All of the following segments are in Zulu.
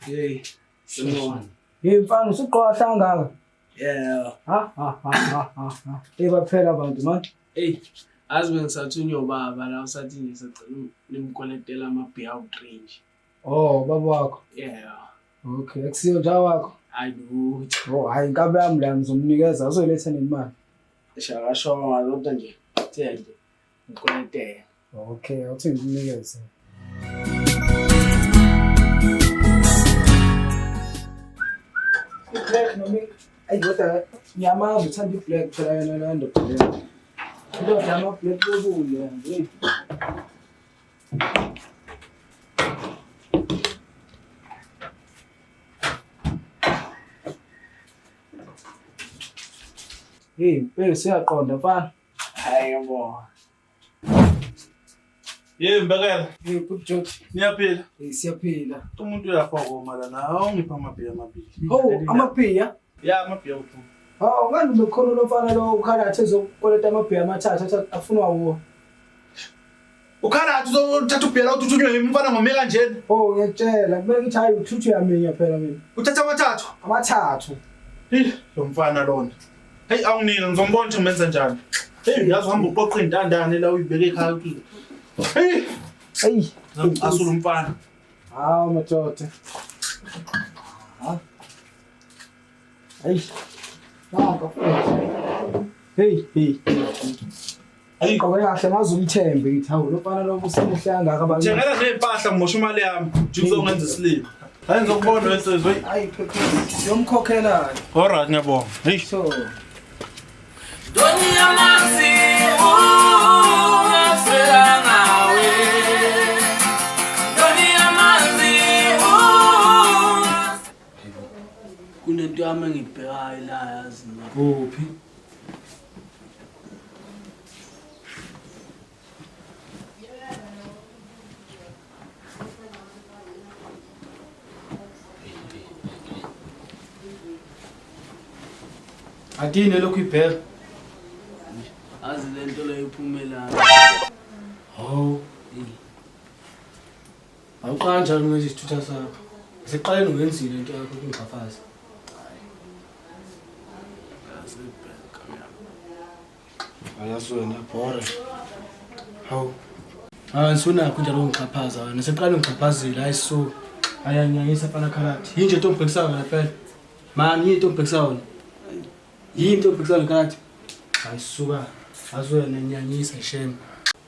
Hey, someone. Hey mfana usuqoqa kangaka? Yeah. Ha ha ha ha ha. Hey baphela abantu manje. Hey, azi bengisathunywa ubaba la usathi ngisacela nimkolektela ama-br drink Oh, ubaba wakho. Yeah. Okay, akusiyo nja wakho. Hayi lutho. Oh, hayi inkabe yami la ngizomnikeza azoletha nemali. Shakasho ngalonto nje. Thende. Ngikwente. Okay, awuthi ngikunikeze. Black noma ayi kodwa ngiyamazi uthanda i-black phela yona laa ndoda leyo. Indoda yama-black bobule nje. Hey, bheke siyaqonda mfana. Hayi bo. Yey mbekela. Hey, good job. Niyaphila? Hey, siyaphila. Umuntu uyafa ngoma lana. Awungipha amabhiya amabili. Oh, amabhiya? Ya, amabhiya uphuma. Hawu, ngani ubekhona lomfana lo ukhalathe ezokweleta amabhiya amathathu afunwa wuwo. Ukhala athi uzothatha ubhela uthi uthunywe yimi mfana ngome kanjena. Oh ngiyakutshela kumele ukuthi hayi uthuthu yaminya phela mina. Uthatha amathathu. Amathathu. Hey lo mfana lona. Hey awunike ngizombona ukuthi ngimenza njani. Hey uyazi uhamba uqoqa intandane la uyibeke ekhaya uthi. Hey. Hey. Asulu mfana. Hawu madoda. Ha? Eish. Naka futhi. Hey, hey. Ayi qobe kahle ngaze umthembe ngithi hawu lo mfana lo usemuhle kangaka abantu. Thengela nezimpahla ngimosha imali yami. Ngizokwenza isilima. Hayi ngizokubona wesizwe. Hayi phephisa. Yomkhokhela. Alright ngiyabonga. Hey. So. Doni ya Maxi. kunento yami engibhekayo la yazi mina kuphi Adini elokhu ibheka. Azi lento leyo iphumela. Hawu. Awuqala njalo ngenza isithutha sakho. Siqaleni ngenzile into yakho ukungixhaphaza. Ayazi wena bhore. Hawu. Hayi sunakho njalo ungixhaphaza wena. Siqala ungixhaphazile hayi so. Ayanyanyisa fana khalati. Yini nje ntombi bhekisa wena phela. Mani yini ntombi bhekisa wena. Yini ntombi bhekisa wena khalati. Hayi suka. Azi wena nyanyisa shame.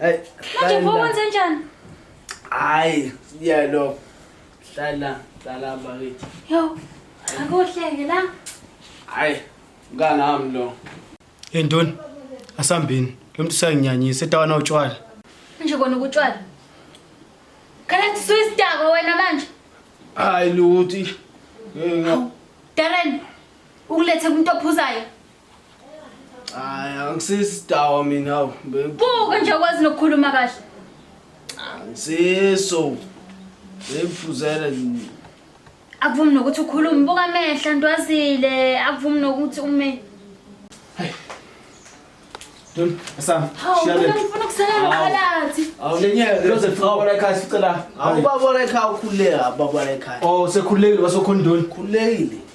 Hey, Manje mfo wenze njani? Hayi, siya lo. Hlala, hlala bakithi. Yo, akuhleke la. Hayi, mkana wami lo. Hey ntoni? Asambini. Lo muntu usayinyanyisa etawana utshwala. Manje kona ukutshwala. Khala kuthi suyisdako wena manje. Hayi luthi. Hey, Darren, ukulethe umuntu ophuzayo. Hayi angisisi dawa mina awu. be- Buka nje ukwazi nokukhuluma kahle. Angisiso. Bephuzela nje. Akuvumi nokuthi ukhulume buka amehla ntwazile akuvumi nokuthi ume. Dun, asam. Hawu Shiya mina le. ngifuna ukusalela phakathi. Awulenyeke. Loze fawona ekhaya sicela. Awubabona ekhaya ukhuleka, babona ekhaya. Oh, sekhulekile wasokhona intoni? Khulekile.